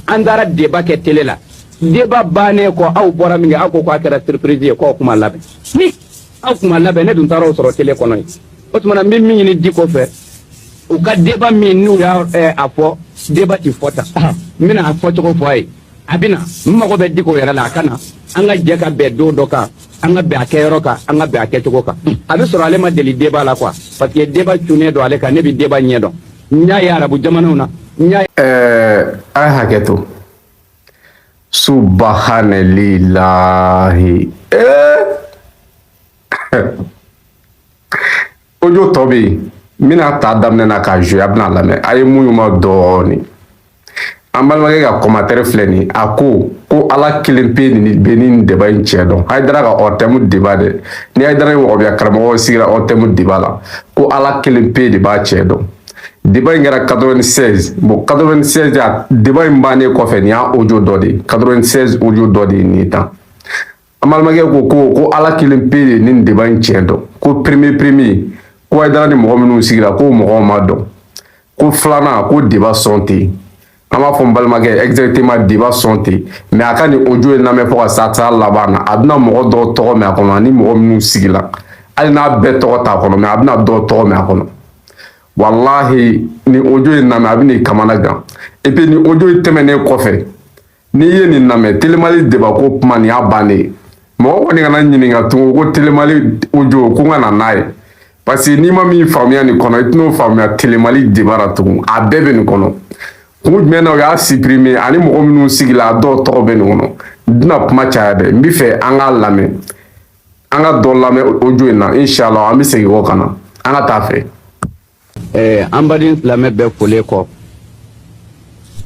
an taara deba kɛ tele la deba bannen kɔ aw bɔra min kɛ aw ko k'a kɛra siriprisi ye k'aw kun ma labɛn ni aw kun ma labɛn ne dun taara aw sɔrɔ tele kɔnɔ yen o tuma n bɛ min ɲini diko fɛ u ka deba min n'u y'a eh, a fɔ deba tɛ fɔ tan n bɛna a fɔ cogo fɔ a ye a bɛ na n mago bɛ diko yɛrɛ la a ka na an ka jɛ ka bɛn don dɔ kan an ka bɛn a kɛyɔrɔ kan an ka bɛn a kɛcogo kan a bɛ sɔrɔ ale ma deli deba la quoi parce que deba cunnen don ale kan ne bɛ deba ɲɛ dɔn n y'a ye arabu jamanaw na n y'a ɛɛ a ye hakɛ to subahanalilahi ee ojo dɔ bɛ yen n bɛna a ta daminɛ na k'a jouer a bɛna a lamɛn a ye muɲu n ma dɔɔnin an balimakɛ ka kɔmantɛri filɛ nin ye a ko ko ala kelen pe de bɛ nin deba in cɛn dɔn hayidara ka ORTM deba dɛ ni hayidara ni wahabiya karamɔgɔw sigira ORTM deba la ko ala kelen pe de b'a cɛn dɔn deba in kɛra 96 bon 96 a deba in bannen kɔfɛ nin y'a ojo dɔ de ye 96 ojo dɔ de ye nin ye tan an balimakɛ ko ko ko ala kelen pe de bɛ nin deba in tiɲɛ dɔn ko premier premier ko hayidara ni mɔgɔ minnu sigira k'o mɔgɔw ma dɔn ko filanan ko deba sɔn tɛ yen an b'a fɔ n balimakɛ exactement deba sɔn tɛ mais a ka nin ojo in lamɛn fo ka sa taa laban na a bɛna mɔgɔ dɔw tɔgɔ mɛn a kɔnɔ ani mɔgɔ minnu sigila hali n'a bɛɛ tɔgɔ t'a kɔnɔ mais a bɛna dɔw tɔgɔ mɛn a kɔnɔ walahi n'i y'ojo in lamɛn a bɛna i kamana gan et puis ni ojo in tɛmɛnen kɔfɛ n'i ye nin lamɛn tele mali debako kuma nin y'a bannen ye mɔgɔ kɔni kana n ɲininka tugun ko tele mali ojo ko n ka na n'a ye parce que n'i ma min faamuya nin kɔnɔ i tɛn'o faamuya tele mali deba ra tugun a bɛɛ bɛ nin kɔnɔ kun jumɛn na u y'a supprimer ani mɔgɔ minnu sigila a dɔw tɔgɔ bɛ nin kɔnɔ n tɛna kuma caya dɛ n bɛ fɛ an k'a lamɛn an ka dɔ lamɛn ojo in na inshallah an bɛ segin kɔ ka na an ka taa a fɛ Ɛɛ an baden silamɛ bɛɛ folen kɔ,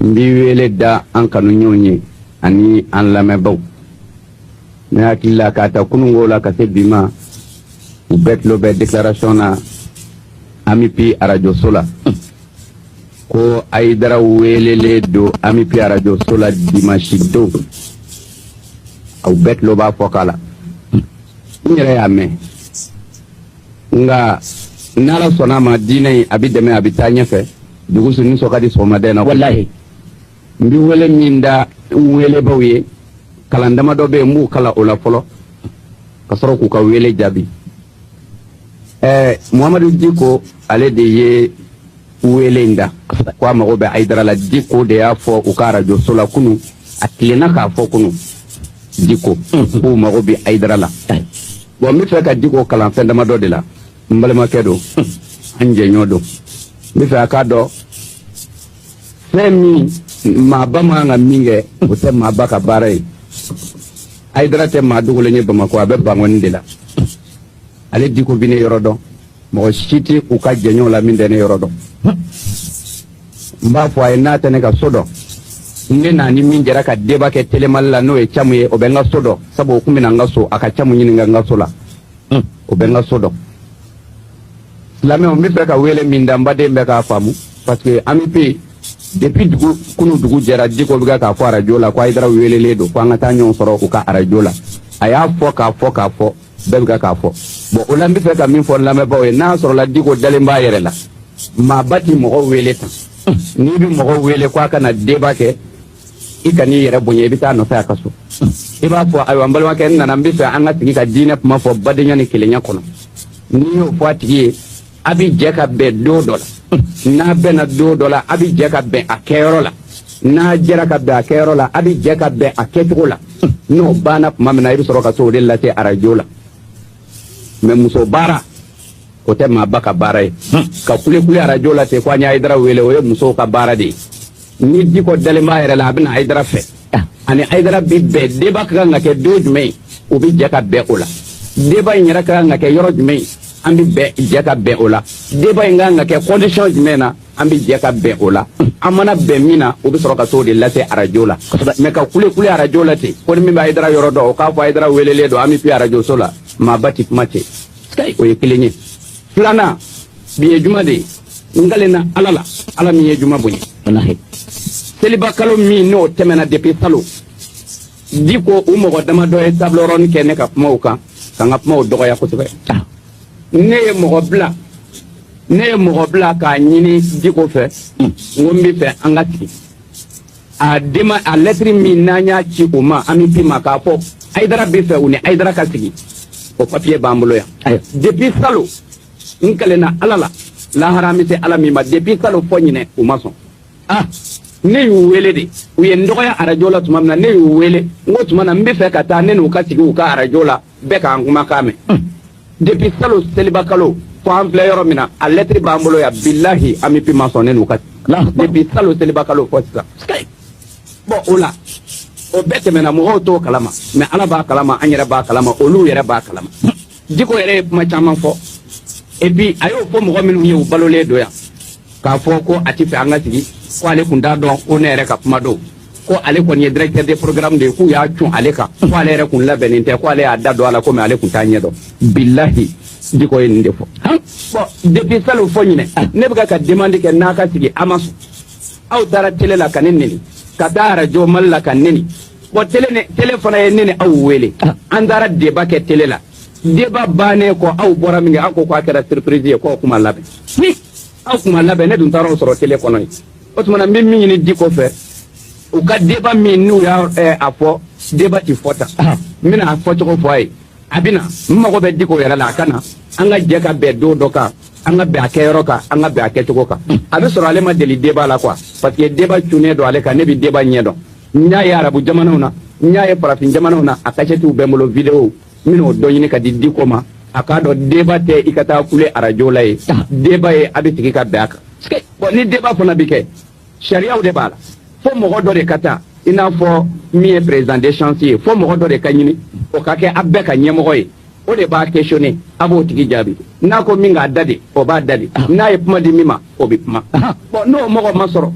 n bɛ wele da an kanuɲɔɔnw ye ani an lamɛnbaaw. Ne hakili la k'a ta kununko la ka se bi ma, u bɛɛ tulo bɛ déclaration na AMUPI arajoso la, ko Ayidara weelelen don AMUPI arajoso la dimanche don, u bɛɛ tulo b'a fɔkan la, n yɛrɛ y'a mɛn. nka ni ala sɔnna a ma diinɛ in a bɛ dɛmɛ a bɛ taa ɲɛfɛ dugu sunni sɔn ka di sɔgɔmadɛn na walahi n bɛ wele min da n weelebaaw ye kalan dama dɔ bɛ yen n b'u kalan o la fɔlɔ ka sɔrɔ k'u ka wele jaabi ɛɛ muhamadu diko ale de ye wele in da ko a mago bɛ ayidara la diko de y'a fɔ u ka arajoso la kunun a tilenna k'a fɔ kunun diko k'u mago bɛ ayidara la bɔn n bɛ fɛ ka diko kalan fɛn damadɔ de la n balimakɛ don an jɛɲɔgɔn don n bɛ fɛ a k'a dɔn fɛn min maaba man ka min kɛ o tɛ maaba ka baara ye ayidara tɛ maa dogolen ye bamakɔ a bɛ bankɔni de la ale diko bɛ ne yɔrɔ dɔn mɔgɔ si tɛ u ka jɛɲɔgɔn la min tɛ ne yɔrɔ dɔn n b'a fɔ a ye n'a tɛ ne ka so dɔn ne n'a ni min jɛra ka deba kɛ telemali la n'o ye camu ye o bɛ n ka so dɔn sabu o tun bɛna n ka so a ka camu ɲininka n ka so la o bɛ n ka so dɔn silamɛw n bɛ fɛ ka wele min da n baden bɛɛ k'a faamu parce que an bɛ yen depuis dugu kunun dugu jɛra diko bɛ k'a fɔ arajo la ko ayidara welelen don ko an ka taa ɲɔgɔn sɔrɔ u ka arajo la a y'a fɔ k'a fɔ k'a fɔ bɛɛ bɛ k'a fɔ bon o la n bɛ fɛ ka min fɔ lamɛnbaaw ye n'a sɔrɔla diko dalen b'a yɛrɛ la maaba tɛ mɔgɔ wele tan n'i bɛ mɔgɔ wele ko a ka na deba kɛ i kan'i yɛrɛ bonya i bɛ t'a nɔfɛ a ka so i b'a fɔ ayiwa n balimakɛ n nana n bɛ fɛ an ka sigi ka diinɛ kuma fɔ badenya ni kelenya kɔnɔ n'i y'o fɔ a tigi ye a bɛ jɛ ka bɛn don dɔ la n'a bɛnna don dɔ la a bɛ jɛ ka bɛn a kɛyɔrɔ la n'a jɛra ka bɛn a kɛyɔrɔ la a bɛ jɛ ka bɛn a kɛcogo la n'o banna tuma min na i bɛ sɔrɔ ka t'o de lase arajo la mɛ muso baara o tɛ maaba ka baara ye ka kulekule arajo la ten ko an ye ayidara wele o ye musow ka baara de ye ni diko dalen b'a yɛrɛ la a bɛ na ayidara fɛ a ni ayidara bɛ bɛn deba ka kan ka kɛ don jumɛn ye u bɛ jɛ ka bɛn o la deba in yɛrɛ ka kan ka kɛ yɔrɔ jumɛn ye an bɛ bɛn jɛ ka bɛn o la deba in ka kan ka kɛ kɔndisɔn jumɛn na an bɛ jɛ ka bɛn o la an mana bɛn min na o bɛ sɔrɔ ka t'o de lase arajo la mɛ ka kulekule arajo la ten ko ni min bɛ ayidara yɔrɔ dɔn o k'a fɔ ayidara welelen don an bɛ pi arajoso la maaba tɛ kuma ten o ye kelen ye filanan bi ye juma de ye n kalenna ala la ala min ye juma bonya walahi seliba kalo min n'o tɛmɛna depi salo diko u mɔgɔ damadɔ ye tabilɔrɔni kɛ ne ka kumaw kan ka n ka kumaw dɔgɔya kosɛbɛ ah ne ye mɔgɔ bila ne ye mɔgɔ bila k'a ɲini diko fɛ n ko n bɛ fɛ an ka sigi a dema a lɛtiri min n'an y'a ci u ma an bɛ bi ma k'a fɔ ayidara bɛ fɛ u ni ayidara ka sigi o papiye b'an bolo yan depuis salo n kalenna ala la lahara an bɛ se ala min ma depuis salo fo ɲinan u ma sɔn ah ne y'u wele de u ye n dɔgɔya arajo la tuma min na ne y'u wele n ko tuma na n bɛ fɛ ka taa ne n'u ka sigi u ka arajo la bɛɛ k'an kumakan mɛn Depuis salon seliba kalo fo an filɛ yɔrɔ min na a lettre b'an bolo yan bilahi an bɛ pima sɔn ne n'u ka depuis salon seliba kalo fo sisan bon o la o bɛɛ tɛmɛna mɔgɔw t'o kalama mais ala b'a kalama an yɛrɛ b'a kalama olu yɛrɛ b'a kalama diko yɛrɛ ye kuma caman fɔ et puis a y'o fɔ mɔgɔ minnu ye u balolen don yan k'a fɔ ko a t'a fɛ an ka sigi ko ale tun t'a dɔn ko ne yɛrɛ ka kuma don ko ale kɔni ye directeur de programme de ye k'u y'a cun ale kan ko ale yɛrɛ kun labɛnnen tɛ ko ale y'a da don a la komi ale kun t'a ɲɛ dɔn bilahi diko ye nin de fɔ bon depuis salon fo ɲinan ne bɛ ka demande kɛ n'a ka sigi a ma sɔn aw taara tele la ka ne neni ka taa arajo mali la ka neni bon tele ne tele fana ye ne ni aw wele an taara deba kɛ tele la deba bannen kɔ aw bɔra min kɛ aw ko k'a kɛra surprise ye k'aw kun ma labɛn ni aw kun ma labɛn ne dun taara aw sɔrɔ tele kɔnɔ yen o tuma na n bɛ min ɲini diko fɛ u ka deba min n'u y'a eh, a fɔ deba ti fɔ tan n bɛna a fɔ cogo fɔ a ye a bɛna n mago bɛ diko yɛrɛ la a ka na an ka jɛ ka bɛn don dɔ kan an ka bɛn a kɛyɔrɔ kan an ka bɛn a kɛcogo kan a bɛ sɔrɔ ale ma deli deba la quoi parce que deba cunnen don ale kan ne bɛ deba ɲɛ dɔn n y'a ye arabu jamanaw na n y'a ye farafin jamanaw na a kasɛtiw bɛ n bolo videow N bɛn'o dɔ ɲini ka di diko ma a k'a dɔn deba tɛ i ka taa kule arajo la ye deba ye a bɛ sigi ka bɛn a kan bon ni deba fana bɛ kɛ sariyaw de b'a la fo mɔgɔ dɔ de ka ta i n'a fɔ min ye président de séance ye fo mɔgɔ dɔ de ka ɲini o ka kɛ a bɛɛ ka ɲɛmɔgɔ ye o de b'a questionner a b'o tigi jaabi n'a ko min k'a da de o b'a da de n'a ye kuma di min ma o bɛ kuma bon n'o mɔgɔ ma sɔrɔ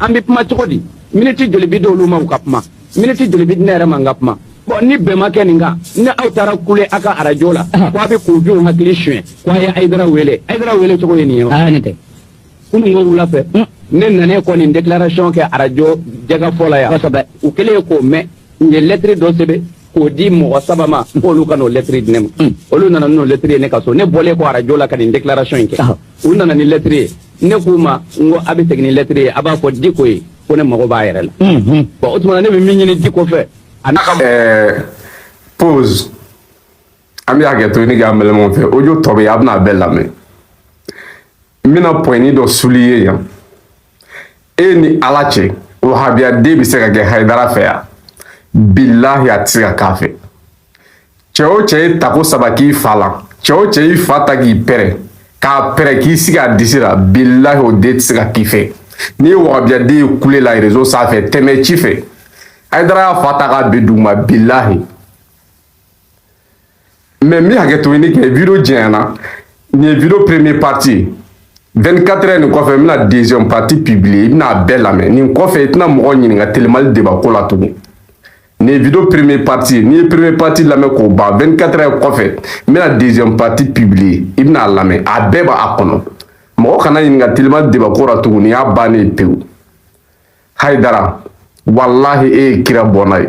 an bɛ kuma cogo di miniti joli bɛ di olu ma ka kuma miniti joli bɛ di ne yɛrɛ ma n ka kuma bɔn ni bɛn ma kɛ nin kan ni aw taara kule aw ka arajo la ko a bɛ kunfinw hakili suɲɛ ko a ye ayidara wele ayidara wele cogo ye nin ye wa aa ne tɛ kunun ko wula fɛ ne nanen kɔ nin déclaration kɛ arajo jɛkafɔ la yan kosɛbɛ u kɛlen k'o mɛn u ye lɛtiri dɔ sɛbɛn k'o di mɔgɔ saba ma k'olu ka n'o lɛtiri di ne ma olu nana n'o lɛtiri ye ne ka so ne bɔlen kɔ arajo la ka nin déclaration in kɛ u nana ni lɛtiri ye ne k'u ma n ko a bɛ segin ni lɛtiri ye a b'a fɔ diko ye ko ne mago b'a yɛrɛ la bon o tuma ne bɛ min ɲini diko fɛ a n'a ka ɛɛ pause an bɛ hakɛto ɲini k'an balimaw fɛ audio tɔ bɛ yen a bɛna a bɛɛ lamɛn n bɛna pointnin dɔ souligner yan e ni ala cɛ wahabiyaden bɛ se ka kɛ hayidara fɛ yan bilahi a tɛ se ka k'a fɛ Cɛ o cɛ ye tako saba k'i fa la cɛ o cɛ y'i fa ta k'i pɛrɛn k'a pɛrɛn k'i sigi a disi la bilahi o den tɛ se ka k'i fɛ n'i ye wahabiyaden ye kule la rezo sanfɛ tɛmɛ ci fɛ Ayidara y'a fa ta k'a bin duguma bilahi mais n bɛ hakɛto ɲini kɛ video janyana nin ye video première partie 24 heures nin kɔfɛ n bɛna deuxième partie publier i bɛna a bɛɛ lamɛn nin kɔfɛ i tɛna mɔgɔ ɲininka telemali debako la tugun nin ye vidéo première partie ye n'i ye première partie lamɛn k'o ban 24 heures kɔfɛ n bɛna deuxième partie publier i bɛna a lamɛn a bɛɛ b'a kɔnɔ mɔgɔ kana n ɲininka telima débat ko la tuguni y'a bannen ye pewu hayidara walahi e ye kira bɔnna ye